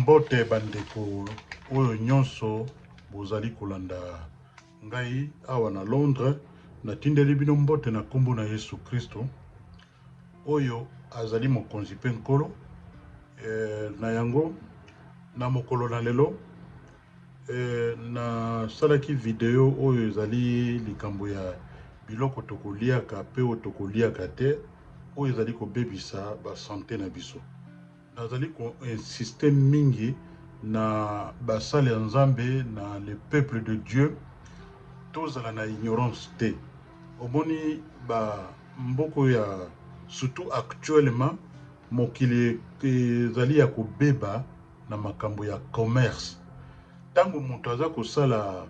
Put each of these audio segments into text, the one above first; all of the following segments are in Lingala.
Mbote ba ndeko oyo nionso bozali kolanda ngai awa na Londres, natindeli bino mbote na kombo na Yesu Kristo oyo azali mokonzi pe Nkolo, eh, na yango na mokolo na lelo, Ee, nasalaki video oyo ezali likambo ya biloko tokoliaka mpe oyo tokoliaka te, oyo ezali kobebisa basante na biso. Nazali ko insister mingi na basali ya Nzambe, na le peuple de Dieu, tozala na ignorance te. Omoni ba mboka oyo ya, surtout actuellement, mokili ezali ya kobeba, na makambo ya commerce tango mutu aza kosala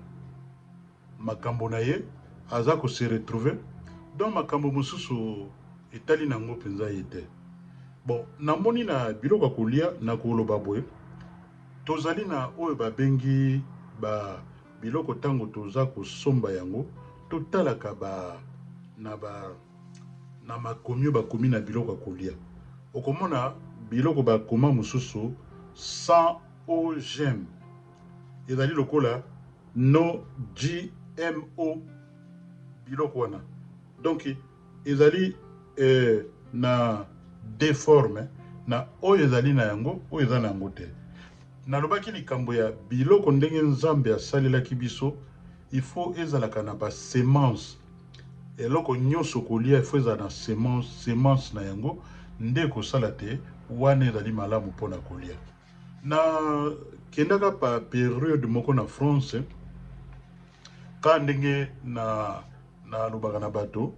makambo na ye aza ko se retrouver donc makambo mosusu etali na ngo penza ye te bon na moni na biloko ya kolia na koloba boye tozali na oyo ba bengi ba biloko tango toza kosomba yango totalaka ba na ba na makomi oyo bakomi na biloko ya kolia. Okomona biloko bakoma mosusu sans OGM. Ezali lokola no GMO biloko wana. Donc ezali eh, na deforme na oyo ezali na yango, oyo eza na yango te. Nalobaki likambo ya biloko ndenge Nzambe asalelaki biso, il faut ezalaka na ba semences Eloko nyoso okolia il faut ezala na semence, semence, na yango nde ekosala te wana ezali malamu pona kolia. Na kendaka pa periode moko na France ka ndenge na na lobaka na bato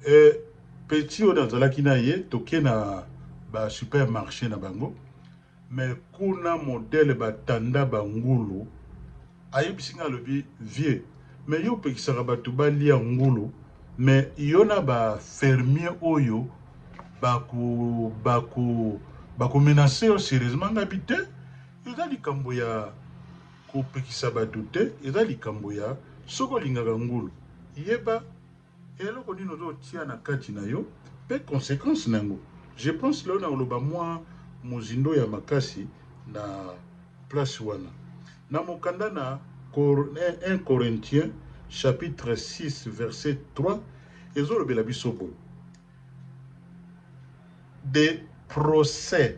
eh, petit oyo nazalaki na ye toke na ba super marche na bango, Mais kuna modèle ba tanda ba ngulu ayebisi nga alobi vieux mais yo opekisaka batu ba lia ngulu mais yo na ba fermiers oyo bako bako bako menace yo serieusement nga bi te eza likambo ya kopekisa batu te eza likambo ya soki olingaka ngulu yeba Eloko nini ozo tia na kati na yo pe consequence na yango. Je pense lelo nako loba mua mozindo ya makasi na place wana. Na mokanda na un Corinthiens chapitre six verset trois ezo lobela biso boye, des procès.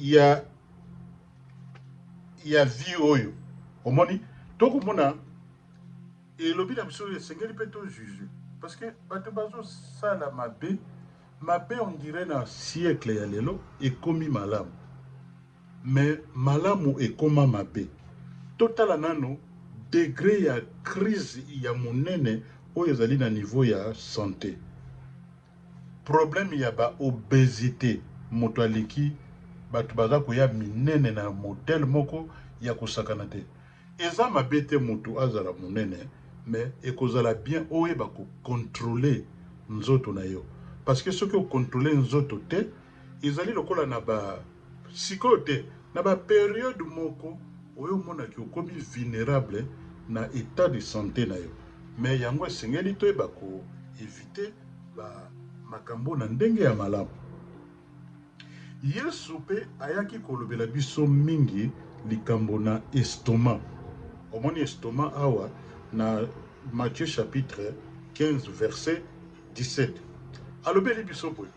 ya ya vie oyo omoni tokomona elobi na biso esengeli mpe to juge parce que bato bazosala mabe mabe on dirait na siècle ya lelo ekomi malamu mais malamu ekoma mabe totala nano degre ya crise ya monene oyo ezali na niveau ya sante Problème ya ba obesite mutu aleki batu baza koya minene na modèle moko ya kosakana te eza mabe te mutu azala munene mais ekozala bien oyeba ko controler nzoto nayo parce que soki o controler nzoto te ezali lokola na ba Sikoyo te, na ba periodes moko oyo omona que okomi vulnerable na etat de sante na yo. Mais yango esengeli toyeba ko eviter ba makambo na ndenge ya malamu. Yesu pe ayaki kolobela biso mingi likambo na estomac. Omoni estomac awa na Matthieu chapitre 15 verset 17. Alobeli biso boye.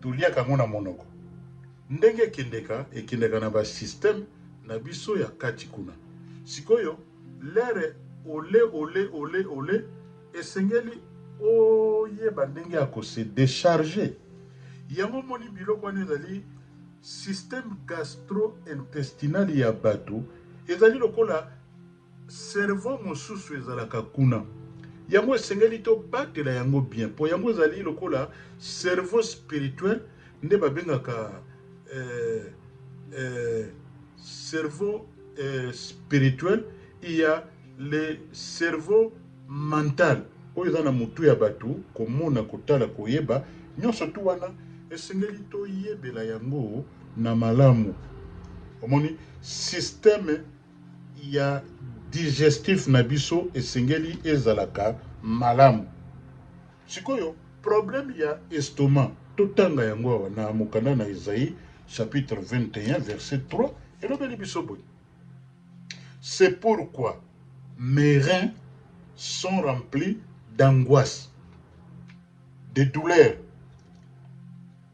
Toliaka yango na monoko. Ndenge ekendeka, ekendaka na ba systèmes na biso ya kati kuna. Sikoyo, lere ole ole ole ole, esengeli oyeba ndenge ya ko se decharger. Yango omoni biloko wana ezali système gastro-intestinal ya batu ezali lokola. Cerveau mosusu ezalaka kuna. Yango esengeli to batela yango bien po yango ezali lokola cerveau spirituel nde ba bengaka eh eh cerveau eh spirituel il ya le cerveau mental oyo eza na mutu ya batu komona kotala koyeba nionso tout wana esengeli to yebela yango na malamu omoni systeme ya digestif na biso esengeli ezalaka malamu. Sikoyo, problème ya estomac, totanga yango awa na mokanda na Esaïe, chapitre 21, verset 3, elobeli biso boye, C'est pourquoi mes reins sont remplis d'angoisse, de douleur.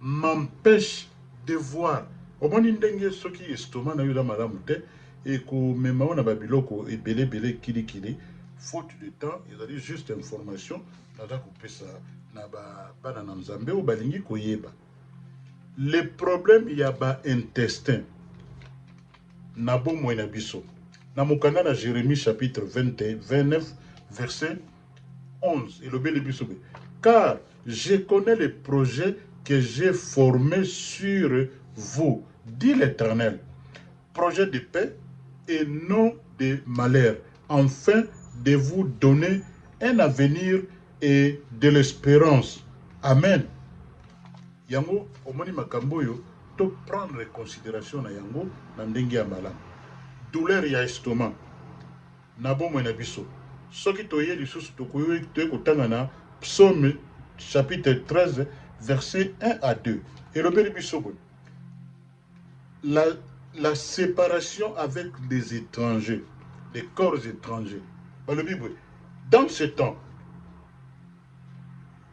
M'empeche de voir omoni ndenge soki estomac nayo eza malamu te eko mema yo na ba biloko ebele ebele kili kili faute de temps ezali juste information naza ko pesa na ba bana na nzambe oyo balingi ko yeba le problème ya ba intestin na bomoi na biso na mokanda na Jeremie chapitre 20 29 verset 11 elobeli biso be car je connais le projet que j'ai formé sur vous dit l'Éternel projet de paix et non de malheur enfin de vous donner un avenir et de l'espérance amen yango omoni makambo oyo to prendre considération na yango na ndenge ya malamu douleur ya estomac Na bomoi na biso, soki toye lisusu, tokoki kotanga na Psaume chapitre 13 verset un à deux, elobeli biso boye, La la separation avec les etrangers, les corps etrangers, balobi boye, dans ce temps,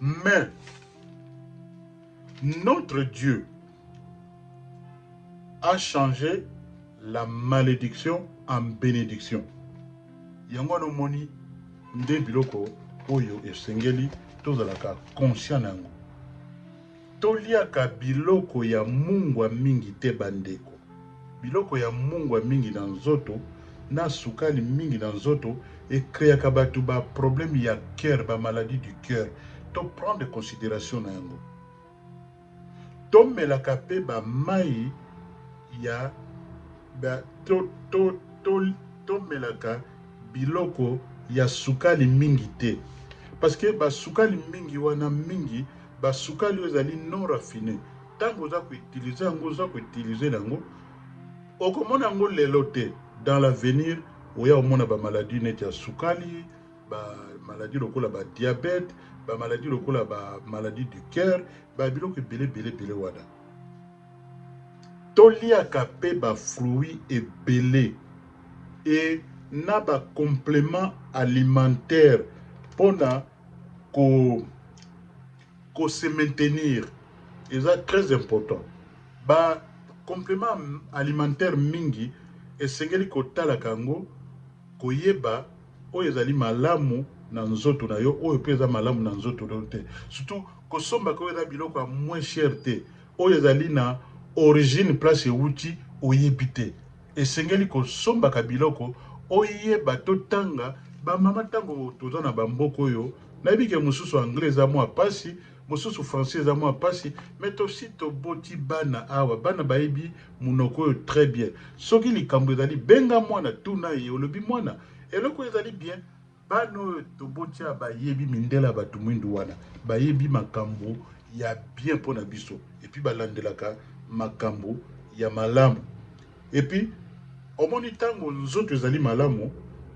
Mais, notre Dieu a change la malediction en benediction. Yango wana omoni nde biloko oyo esengeli tozalaka conscient na yango. Toliaka biloko ya mungwa mingi te bandeko. Biloko ya mungwa mingi na nzoto na sukali mingi na nzoto e creaka batu ba problèmes ya cœur, ba maladies du cœur. To prendre consideration na yango. Tomelaka pe ba mayi ya ba to to to tomelaka biloko ya sukali mingi te parce que ba sukali mingi wana mingi. Ba sukali oyo ezali non raffine tangu oza ko utiliser yango oza ko utiliser na yango okomona yango lelo te dans l'avenir oya omona ba maladie neti ya sukali ba maladie lokola ba diabete ba maladie lokola ba maladie du coeur ba biloko ebele ebele ebele wana toliaka pe ba fruits ebele et na ba complements alimentaires pona ko ko se maintenir eza très important ba complement alimentaire mingi esengeli kotalaka yango koyeba oyo ezali malamu na nzoto na yo oyo pe eza malamu na nzoto na yo te surtout kosombaka oyo eza biloko ya moins cher te oyo ezali na origine place ewuti oyebi te Esengeli kosombaka biloko oyeba to tanga ba mama tango toza na ba mboka oyo nayebi ke mususu anglais eza mua pasi mususu francais eza mua pasi mais tosi toboti bana awa bana bayebi munoko oyo très bien soki likambo ezali benga mwana tuna ye olobi mwana eloko ezali bien Bana oyo tobotia bayebi mindele ya batu mwindu wana bayebi makambu ya bien pona biso epuis balandelaka makambu ya malamu epuis omoni tango nzoto ezali malamu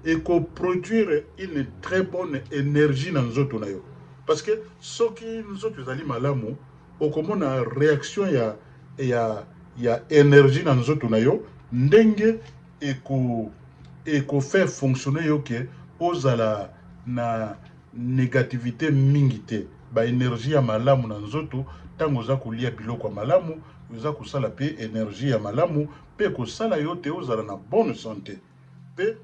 eko produire une très bonne energie na nzoto nayo parce que soki nzoto ezali malamu okomona reaction ya ya ya energie na nzoto nayo ndenge eko eko faire fonctionner yo que ozala na negativite mingi te, ba energie ya malamu na nzoto tango oza kolia biloko ya malamu eza kosala pe energie ya malamu pe ekosala yo te ozala na bonne sante pe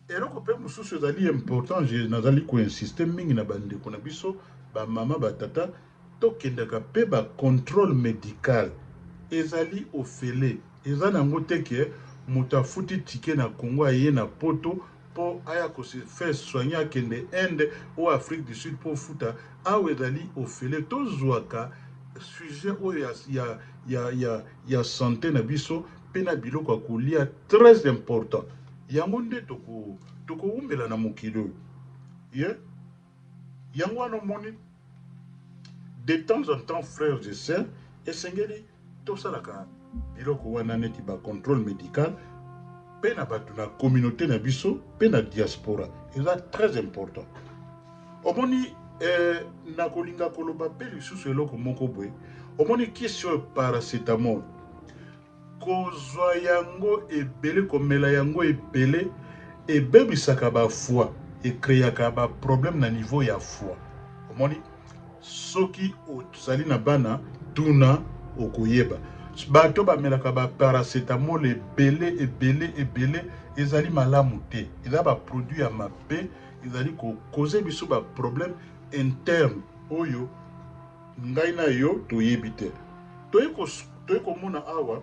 Eloko pe mosusu ezali important je nazali ko insister mingi na ba ndeko na biso ba mama ba tata Tokendaka pe ba controle medical ezali ofele eza na ngo te ke mutu afuti ticket na congo aye na poto po aya ko se faire soigner akende inde ou afrique du sud po ofuta awa ezali ofele tozuaka sujet oyo ya ya ya ya ya sante na biso pe na biloko ya kolia tres important yango nde toko tokowumela na mokili oyo ye Yango wana omoni de temps en temps frères et sœurs esengeli tosalaka biloko wana neti ba contrôle medical pe na bato na communauté na biso pe na diaspora eza très important omoni eh, nakolinga koloba pe lisusu eloko moko boye omoni kisi oyo paracetamol Kozwa yango ebele, komela yango ebele ebebisaka ba foie, e creaka ba problèmes na niveau ya foie. Omoni? Soki ozali na bana, tuna okoyeba. Bato bamelaka ba paracetamol ebele, ebele, ebele, ezali malamu te. Eza ba produits ya mabe, ezali ko causer biso ba problèmes internes oyo. Ngai na yo toyebi te. Toyei komona awa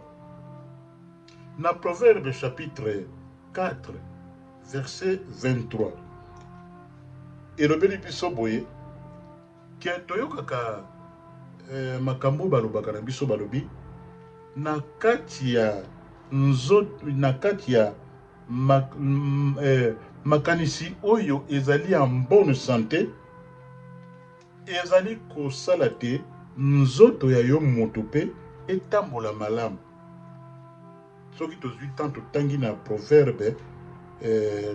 na Proverbe chapitre 4 verset 23 elobeli biso boye ke toyokaka eh, makambo oyo balobaka na biso, balobi na kati ya nzoto, na kati ya mak, mm, eh, makanisi oyo ezali en bonne sante Ezali kosala te nzoto ya yo moto pe etambola malamu. Soki tozui temps totangi na Proverbe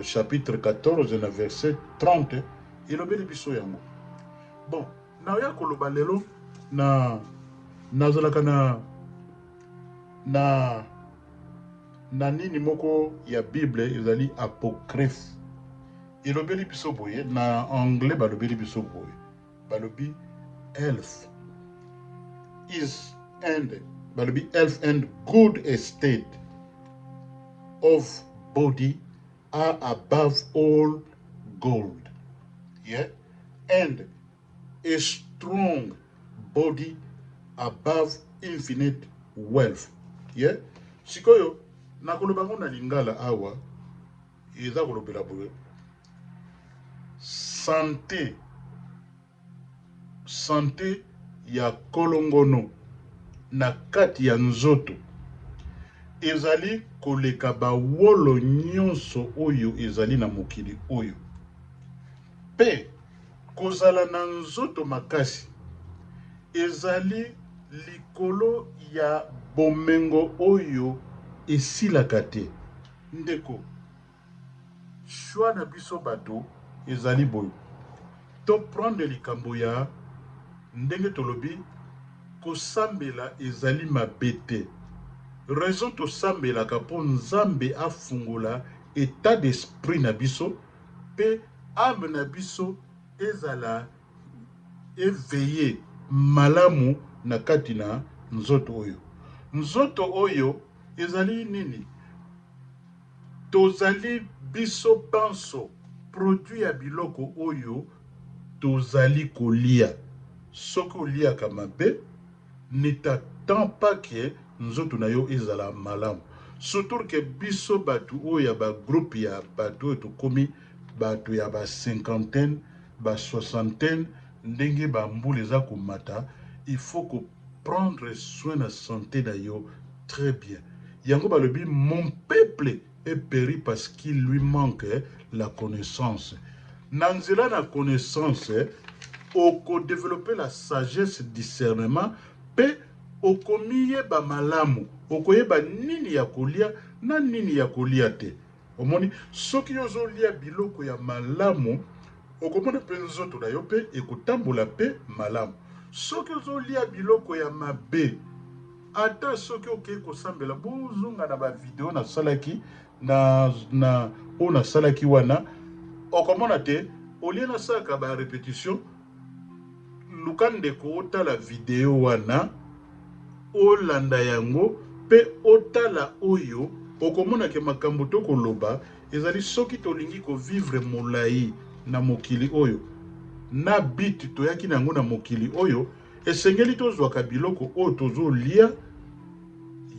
chapitre 14 na verset 30, elobeli biso yango. Bon, naoya koloba lelo na nazalaka na na na nini moko ya bible ezali apocryphe. Elobeli biso boye, na anglais balobeli biso boye, balobi health is and balobi health and good estate of body are above all gold yeah? and a strong body above infinite wealth yeah? Sikoyo nakoloba ngo na lingala awa Eza kolobela boye sante sante ya kolongono na kati ya nzoto ezali koleka ba wolo nyonso oyo ezali na mokili oyo pe kozala na nzoto makasi ezali likolo ya bomengo oyo esilaka te. Ndeko, choix na biso batu ezali boye, to prendre likambo ya ndenge tolobi, kosambela ezali mabe te, raison tosambelaka po Nzambe afungola etat d'esprit na biso pe ame na biso ezala. eveille malamu na kati na nzoto oyo. Nzoto oyo ezali nini? Tozali biso banso produit ya biloko oyo tozali kolia. Soki oliaka mabe, ne t'attends pas que nzoto na yo ezala malamu. Sutur que biso batu oyo ya ba groupe ya batu oyo tokomi batu ya ba cinquantaine, ba soixantaine ndenge ba mbula eza komata il faut ko prendre soin na sante na yo très bien yango balobi mon peuple est peri parce qu'il lui manque la connaissance na nzela na connaissance oko developper la sagesse discernement pe okomiyeba malamu okoyeba nini ya kolia na nini ya kolia te. Omoni, soki yo ozo lia biloko ya malamu, okomona pe nzoto na yo pe ekotambola pe malamu. Soki ozo lia biloko ya mabe, ata soki okeyi kosambela, bo zonga na ba video na salaki na, na, oyo na salaki wana, okomona te, au lieu na salaka ba repetitions, Luka ndeko otala video wana, olanda yango pe otala oyo okomona ke makambu toko loba ezali soki tolingi ko vivre molayi na mokili oyo na but toyaki na yango na mokili oyo esengeli tozwaka biloko oyo tozo lia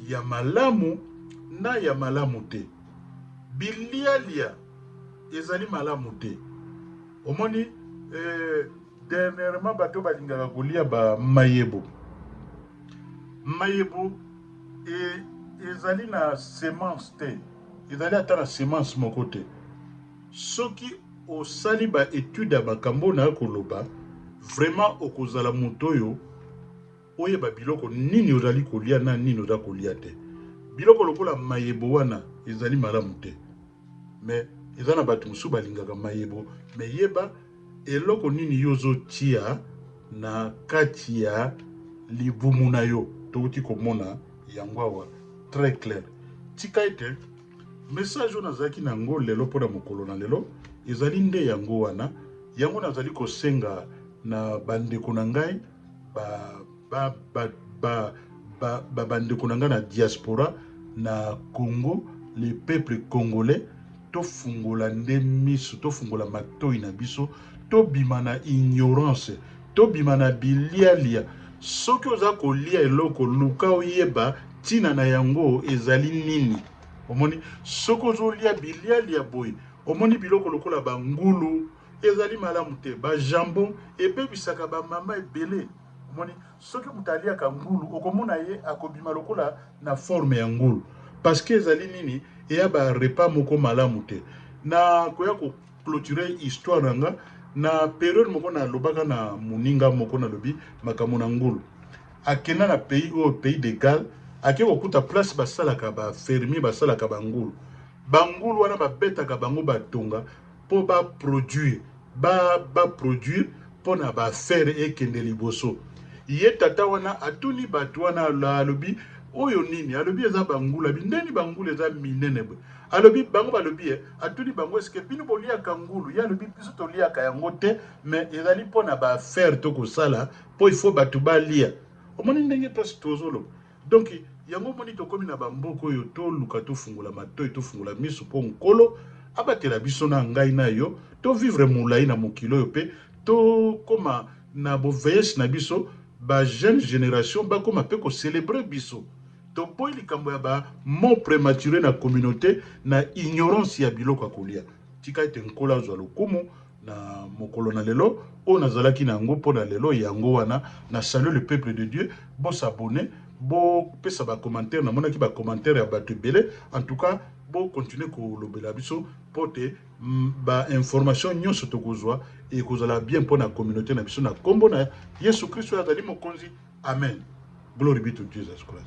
ya malamu na ya malamu te. Bilialia ezali malamu te. Omoni eh, dernièrement bato balingaka kolia ba mayebo. Mayebo e, ezali na semence te, ezali ata na semence moko te. Soki osali ba etudes ya makambo oyo naye koloba, vraiment okozala moto oyo Oyeba biloko nini ozali kolya na nini oza kolya te. Biloko lokola mayebo wana ezali malamu te mais eza na batu mosusu balingaka mayebo mais yeba eloko nini yo ozo tia na kati ya libumu na yo. Towuti komona yango awa très clair. Tika ete message oyo nazalaki na yango lelo pona mokolo na lelo ezali nde yango wana. Yango nazali kosenga na ba ndeko na ngai. ba ndeko na nga na diaspora na Congo le peuple congolais tofungola nde miso tofungola matoyi na biso tobima na ignorance tobima na bilialia soki oza kolia eloko luka oyeba ntina na yango ezali nini omoni soki ozolia bilialia boye omoni biloko lokola bangulu Ezali malamu te. Ba jambon ebebisaka ba mama ebele. Omoni? Soki moto aliaka ngulu, okomona ye akobima lokola na forme ya ngulu. Parce que ezali nini? Eya ba repas moko malamu te. Na koya ko cloturer histoire na nga, na periode moko na lobaka na moninga moko na lobi makambo na ngulu. Akenda na pays oyo, pays de Galles, ake ko kuta place ba salaka ba fermiers ba salaka ba ngulu. Ba ngulu wana ba betaka bango ba tonga. po ba produire ba ba produire pona ba affaire ekende liboso ye tata wana atuni batu wana alobi oyo nini alobi eza ba ngula bindeni ba ngula eza minene boye alobi bango balobi eh atuni bango eske bino boliaka ngulu ye alobi biso toliaka yango te mais ezali pona ba affaire tokosala po il faut batu balia omoni ndenge pasi tozoloba Donc yango omoni tokomi na ba mboka oyo to luka to fungola matoyi to fungola misu po nkolo abatela biso na ngai na yo to vivre mulayi na mokili oyo pe to koma na bo veiesse na biso ba jeune generation ba koma pe ko celebrer biso to boyi likambo ya ba mort premature na communaute na ignorance ya biloko ya kolia tika ete nkolo azua lokumu na mokolo na lelo oyo nazalaki na yango mpo na lelo yango wana na salut le peuple de Dieu bo s'abonner bo pesa ba commentaire namonaki ba commentaire ya batu ebele en tout cas bo continuer kolobela biso mpo te ba information nyonso tokozwa ekozala bien mpo na communaute na biso na kombo na Yesu Christo azali mokonzi amen glory be to Jesus Christ